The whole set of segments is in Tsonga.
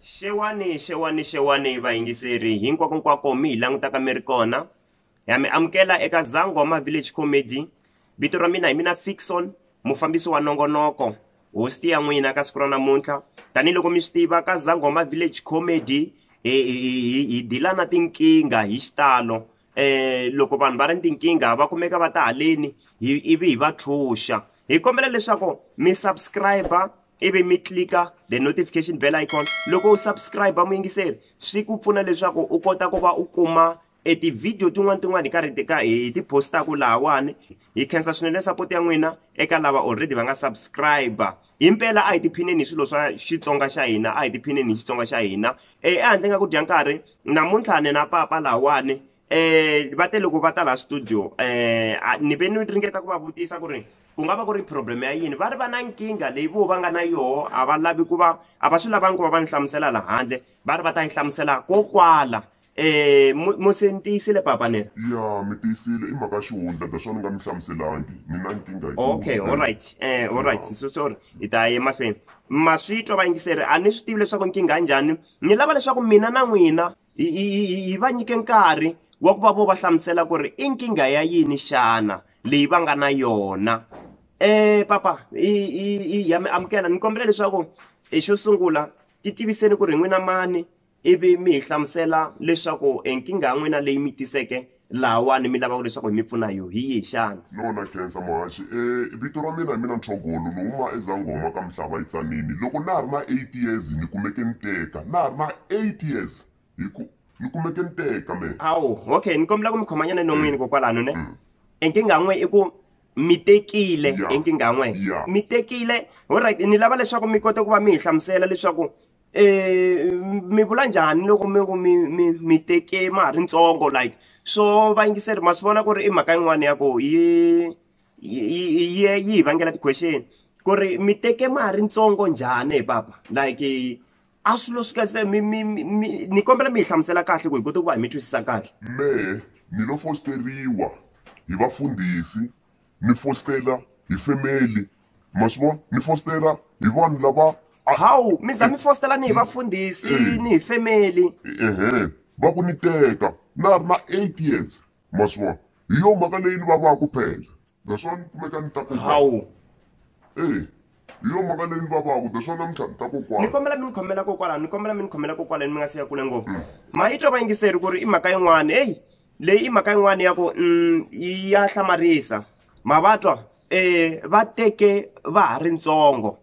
xewani xewani xewani vayingiseri hinkwakonkwako mi hi langutaka mi ri kona ha mi amukela eka zangoma village comedy vito ra mina hi mina fixon mufambisi wa nongonoko hosti ya n'wina ka siku ra namuntlha tanihiloko mi swi tiva ka zangoma village comedy hi dilana tinkingha hi xitalo eh loko vanhu va ri ni tinkingha va kumeka va ta haleni hi ivi hi va tlhuxa hi kombela leswaku mi subscribe ivi mi tlika the notification bell icon loko u subscribe muyingiseri swi ku pfuna leswaku u kota ku va u kuma e tivhidiyo tin'wana tin'wana hi karhi tika hi ti postaku lahawani hi khensa swinene support ya n'wina eka lava already va nga subscribe himpela a hi tiphineni hi swilo swa xitsonga xa hina a hi tiphineni hi xitsonga xa hina um ehandle nga ku dya nkarhi namuntlha ni na papa lahawani um va te loko va ta laha studio um ni ve ni ringeta ku va vutisa ku ri ku nga va ku ri problem ya yini va ri va na nkingha leyi vo va nga na yoho a va lavi ku va a va swi lavangi ku va va ni hlamusela lahandle va ri va ta yi hlamusela ko kwala um mo se ni tiyisile papa nera ya mi tiyisile i mhaka xihundla that's why ni nga mi hlamuselangi ni na nkingha okay all right um all right so sorry hi ta ya emahlweni ma swi twa vayingiseri a ni swi tivi leswaku nkingha njhani ni lava leswaku mina na n'wina hi va nyike nkarhi wa ku va vo va hlamusela ku ri i nkingha ya yini xana leyi va nga na yona um papa i ya mi amukela ni kombela leswaku xo sungula Titiviseni ku ri hi n'wina mani ivi mi hi hlamusela leswaku e nkingha ya n'wina leyi mi tiseke lahawani mi lavaka leswaku hi mi pfuna hi yo hi yihi xana? Lona Khensa Muhaxi, E vito ra mina hi mina Nthogolo ni huma eZangoma ka Mhlava eTzaneni. Loko na ha ri na eight years ni kumeke ni teka, na ha ri na eight years hi ku ni kumeke ni teka mehe. Hawu, okay ni kombela ku mi khomanyana no n'wini kokwalano ne. E nkingha ya n'we i ku mi tekile enkingha n'we mi tekile olright ni lava leswaku mi kote ku va mi hi hlamusela leswaku um mi vula njhani loko mi ku mi mi mi teke ma ha ri ntsongo like so vayingiseri ma swi vona ku ri i mhaka yin'wana ya ku yi yi yi hi vangela ti-question ku ri mi teke ma ha ri ntsongo njhani hi papa like a swilo swi kahle mi mi mi ni kombela mi hi hlamusela kahle ku hi kota ku va hi mi twisisa kahle mehe mi lo fosteriwa hi vafundhisi mi fostela hi family ma swi vona mi fostela hi vanhu lava hawu mi za mi fostela ni hi vafundhisi ni hi family ehe va ku ni teka na ha ri na eight years ma swi vona hi yo mhaka leyi ni vavaku phela that's why ni kumeka ni ta ku hawu eyi hi yo mhaka leyi ni vavaku that's why namuntlha ni ta kokwana ni kombela mi ni khomela kokwalano ni kombela mi ni khomela kokwalani mi nga siya kule ngopfu mm. ma yi twa va yingiseri ku ri i mhaka yin'wana heyi leyi i mhaka yin'wana ya ku mm, ya hlamarisa ma va twa um va teke va ha ri ntsongo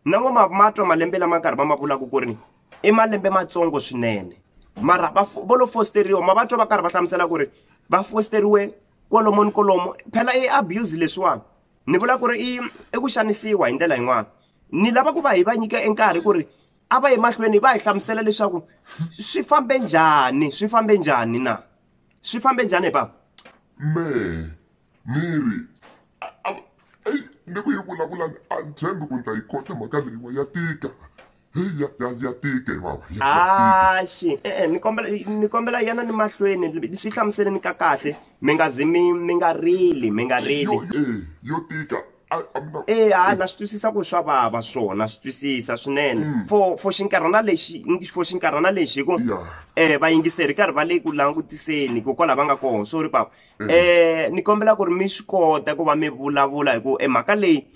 na ngo ma ma twa malembe lama nkarhi va ma vulaka ku ri i malembe matsongo swinene mara vo lo fosteriwa ma va twa va karhi va hlamusela ku ri va fosteriwe kwalomo ni kwalomo phela i abuse leswiwani ni vula ku ri i i ku xanisiwa hi ndlela yin'wana ni lava ku va hi va nyika e nkarhi ku ri a va emahlweni va hi hlamusela leswaku swi fambe njhani swi fambe njhani na swi fambe njhani hi papa me ni ri ni ku yi vulavula a ni tshembi ku ni ta yi kota mhaka leyiwa ya tika heyi ya, ya, ya tika hi vava ya, ya tika axi e-e ni kombela ni kombela yana ni mahlweni swi hlamuseleni ka kahle mi nga zi mi mi nga rili mi nga rili yo eh, yo tika a a mi na e ha na swi twisisa ku swa vava swona swi twisisa swinene for for xinkarhana lexi ngi- for xinkarhana lexi hi ku ya eh vayingiseri karhi va le ku langutiseni hikokwalaho va nga kona sorry papa eh ni kombela ku ri mi swi kota ku va mi vulavula hi ku e mhaka leyi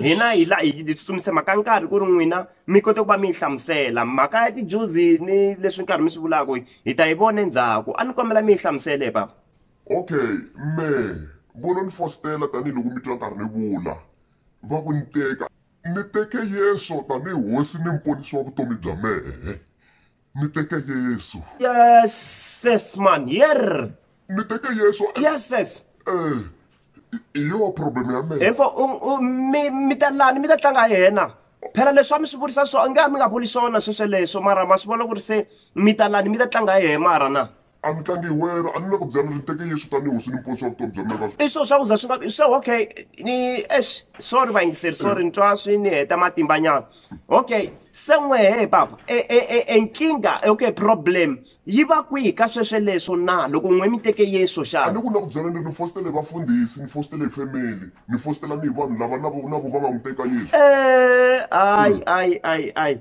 hina hi la hi hi tsutsumisa mhaka nkarhi ku ri n'wina mi kote ku va mi yi hlamusela mhaka ya tijuzi ni leswi nkarhi mi swi vulaka hi ta yi vona endzhaku a ni kombela mi yi hlamusele papa okay me vona ni fositela tanihiloko mi twa nkarhi ni vula va ku ni teka ni teke yeso tanihi hosi ni muponisi wa vutomi bya mehe Ni teke Yesu. Yeses man, yerr. Ni teke Yesu. Yeses. Eh, i yo problem ya mina. Info mi mi ta lani mi ta tlanga yena. phela leswi a mi swi vurisa swona nge a mi nga vuli swona swesweleswo mara ma swi vona ku ri se mi ta lani mi ta tlanga hi mara na A mi tlangi hi wena a ni le ku byela ni ri teke Yesu tanihi hosi ni muponisi wa vutomi bya mina ka. I swo swa ku za swi nga vi swo okay ni eish sorry vayingiseri sorry ni twa swi ni heta matimba nyana okay se n'wehe papa e e e e nkingha okay problem yi va kwihi ka sweswe leswo na loko n'we mi teke Yesu A xana ni ku na ku byela ni ri ni fositele hi vafundhisi ni fositele hi family ni fositela ni hi vanhu lava na vo na vo va nga n'wi teka Yesu. Eh, ai ai ai ai.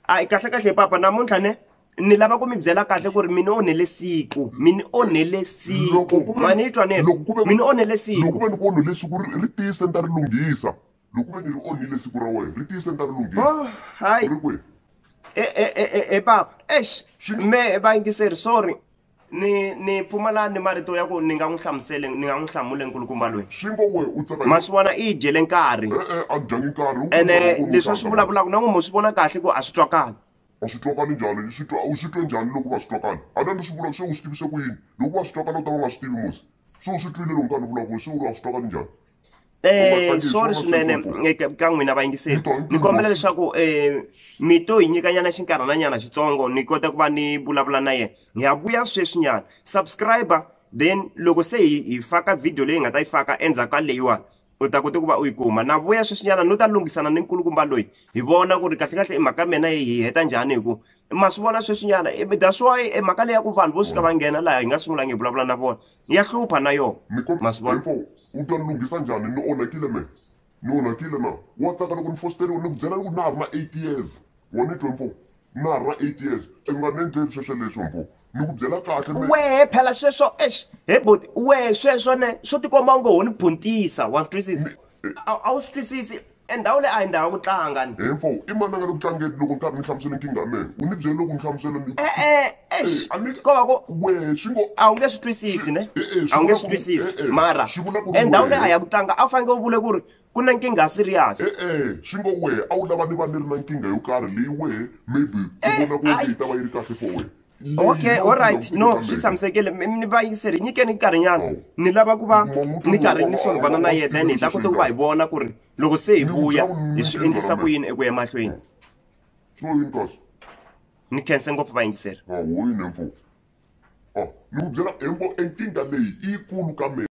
a yi kahlekahle papa namuntlha ne ni lava ku mi byela kahle ku ri mi ni onhele siku mi ni onhele siku ma ni twa nelo mi ni onhele siku loko ve ni ku onhele siku ri tiyise ni ta ri lunghisa loko ve ni ri onhile siku ra wena ri tiyise ni ta ri lunghisa oh, hayi e, e, e, e papa exi me vayingiseri sorry ni ni pfumala ni marito ya ku ni nga n'wi hlamusele ni nga n'wi hlamule nkulukumba loyi xingo we u tsaka ma swi vona i yi dyele nkarhi e-e a dyangi nkarhi ene leswi a swi vulavulaka na n'wi mo swi vona kahle ku a swi twakali a swi twakali njhani swi twa u swi twe njhani loko va swi twakali a na ni swi vulaka se u swi tivise ku yini loko va swi twakala u ta va nga swi tivi musi se u swi twile loko nkarhi ni vulavula se u ri a swi twakali njhani um swo ri swinene ka n'wina vayingiseli ni kombela leswaku um mi to hi nyikanyana xinkarhananyana xitsongo ni kota ku va ni vulavula na yena hi ya vuya sweswinyana subscriber then loko se hi hi faka video leyi hi nga ta yi faka endzhaku ka leyiwani u ta kota ku va u yi kuma na vuya sweswinyana no ta lunghisana ni nkulukumba loyi hi vona ku ri kahlekahle i mhaka ya mina hi heta njhani hi ku ma swi vona sweswinyana that's why mhaka leyi ya ku vanhu vo suka va nghena laha hi nga sungulanga hi vulavula na vona ya hlupha na yona hinkwavo u ta lunghisa njhani ni onhakile me ni onhakile na wa tsaka loko ni fositeriwe ni ku byela loko na ha ri na eight years wa ni twe mfo na ha ri na eight years i nga ni endleli sweswo leswo mfo ni ku byela kahle wehe phela sweswo ex he boti wehe sweswo ne swo tikomba u ngo ho ni phuntisa wa swi twisisa a wu swi twisisi E ndhawu leyi a hi ndhawu ya ku tlanga ni. He mfo, i mani a nga le ku tlangeni loko ni karhi ni hlamusela nkingha ya mina? U ni byele loko ni hlamusela ni. E-e, eish, Eh, a ni- ko va ku. Wehe swi ngo. A wu nge swi twisisi ne? Eh, eh, swi A wu nge vula swi ku- twisisi. eh, eh, Mara swi vula ku ri e ndhawu leyi a wehe. ya ku tlanga a wu fanekele u vule ku ri ku na nkingha ya serious. E-e, swi ngo wehe a wu lava ni va ni ri na nkingha yo karhi leyi wehe maybe u vona ku Eh, nga yi ta va yi ri kahle for wena. okay allright no swi tshamisekile mi va yingiseri nyikeni nkarhinyana oh. ni lava ku va ni karhi ni solvana na yena then hi ta kota ku va hi vona ku ri loko se hi vuya hi swi endlisa ku yini eku ya emahlweni oh. ni khense ngopfu va yingiseri ah, ah, ni ku byela embo enkingha leyi i yikulu ka mina